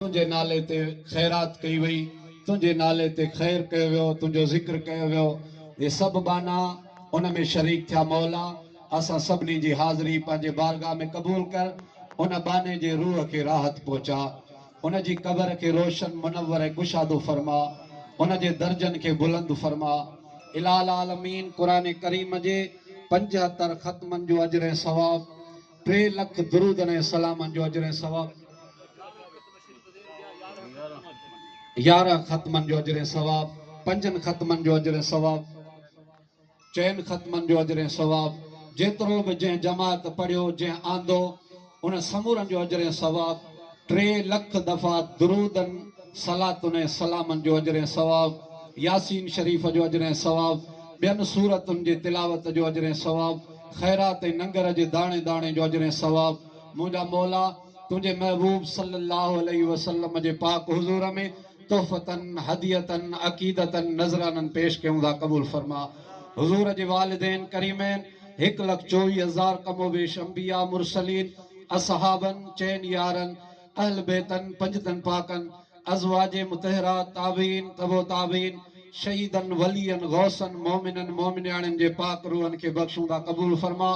تنهنجي نالي تي خيرات ڪئي وئي، تنهنجي نالي تي خير ڪيو ويو، تنهنجو ذڪر ڪيو ويو، اهي سڀ ٻانها ان ۾ شريڪ ٿيا، مولا! اسان سڀني جي حاضري پنهنجي بارگاهه ۾ قبول ڪر، ان ٻانهي جي روح کي راحت پهچاء، ان جي قبر کي روشن، منور ۽ ڪشادو فرماء، ان جي درجن کي بلند فرماء. الٰهي العالمين قرآن ڪريم جي پنجهتر ختمن جو اجر ۽ ثواب ٽي لک درودن ۽ سلامن جو اجر ۽ ثواب يارهن ختمن جو اجر ۽ ثواب پنجن ختمن جو اجر ۽ ثواب چئن ختمن جو اجر ۽ ثواب جيترو به جنهن جماعت پڙهيو جنهن آندو ان سمورن جو اجر ۽ ثواب ٽي لک دفعا درودن صلاتن ۽ سلامن جو اجر ۽ ثواب ياسين شريف جو اجر ۽ ثواب ٻين سورتن جي تلاوت جو اجر ۽ ثواب خيرات ۽ ننگر جي داڻي داڻي جو اجر ۽ ثواب منهنجا مولا تنهنجي محبوب صلّي اللّٰه عليه وسلّم جي پاڪ حضور ۾ تحفة هدية عقيدة نذرانًا پيش ڪيون ٿا قبول فرما حضور جي والدين ڪريمين هڪ لک چوويهه هزار ڪم و بيش انبياء مرسلين اصحابن چئن يارن اهل بيتن، پنجتن پاڪن، ازواج مطهرات، تابعين، تبع تابعين، شهيدن، ولين، غوثن، مومنن، مومنياڻين جي پاڪ روحن کي بخشوندا قبول فرما.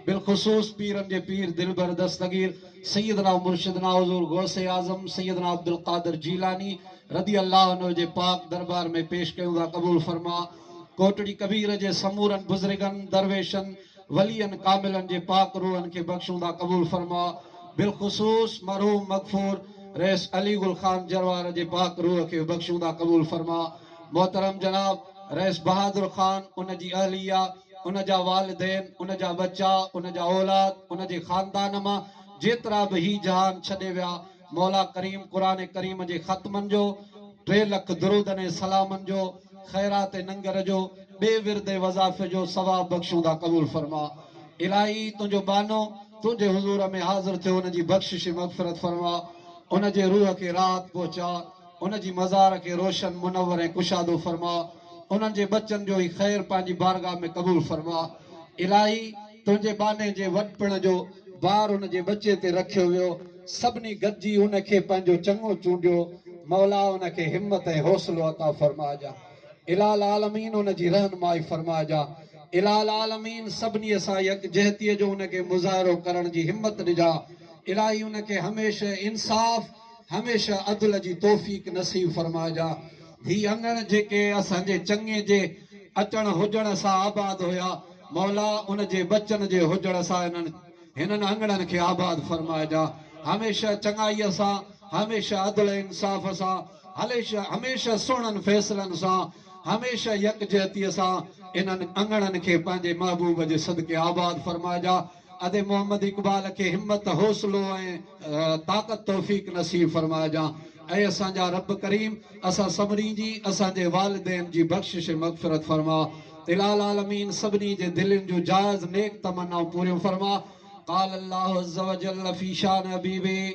بالخصوص پيرن جي پير دلبر دستگير سيدنا و مرشدنا حضور غوث اعظم سيدنا عبدالقادر جيلاني رضي الله عنه جي پاڪ دربار ۾ پيش ڪيوندا قبول فرما. ڪوٽڙي ڪبير جي سمورن بزرگن، درويشن، ولين ڪاملن جي پاڪ روحن کي بخشوندا قبول فرماء بالخصوص مرحوم مغفور رئيس علي گل خان جروار جي پاڪ روح کي بخشوندا قبول فرماء محترم جناب رئيس بهادر خان ان جي اهليه ان جا والدين ان جا ٻچا ان جا اولاد ان جي خاندان مان جيترا به هي جهان ڇڏي ويا مولا ڪريم قرآن ڪريم جي ختمن جو، ٽي لک درودن ۽ سلامن جو، خيرات ننگر جو، ٻئي ورد وظائف جو ثواب بخشوندا قبول فرما. الاهي تنهنجو ٻانهو تنهنجي حضور ۾ حاضر ٿيو ان جي بخشش ۽ مغفرت فرما. ان جي روح کي راحت پهچاء. ان جي مزار کي روشن، منور ۽ ڪشادو فرماء، انهن جي ٻچن جو هي خير پنهنجي بارگاھ ۾ قبول فرماء. الاهي! تنهنجي ٻانهي جي وڏپڻ جو بار ان جي ٻچي تي رکيو ويو، سڀني گڏجي ان کي پنهنجو چڱو چونڊيو، مولا ان کي همت ۽ حوصلو عطا فرمائجان. الاھ العالمين ان جي رهنمائي فرمائجان. الاھ العالمين سڀني سان يڪجهتيء جو ان کي مظاهرو ڪرڻ جي همت ڏجان. الاهي ان کي هميشه انصاف. هميشه عدل جي توفيق نصيب فرمائجان. هي اڱڻ جيڪي اسان جي چڱي جي اچڻ هجڻ سان آباد هيا مولا ان جي بچن جي هجڻ سان انهن هنن اڱڻن کي آباد فرمائجان هميشه چڱائي سان هميشه عدل انصاف سان هليشه هميشه سهڻن فيصلن سان هميشه يڪجهتي سان انهن اڱڻن کي پنهنجي محبوب جي صدقي آباد فرمائجان. ادي محمد اقبال کي همت حوصلو ۽ طاقت توفيق نصيب فرمائجان اي اسان جا رب ڪريم اسان سڀني جي اسان جي والدين جي بخشش مغفرت فرما اله العالمين سڀني جي دلين جون جائز نيڪ تمنائون پوريون فرما قال الله عزّ وجلّ في شان حبيبه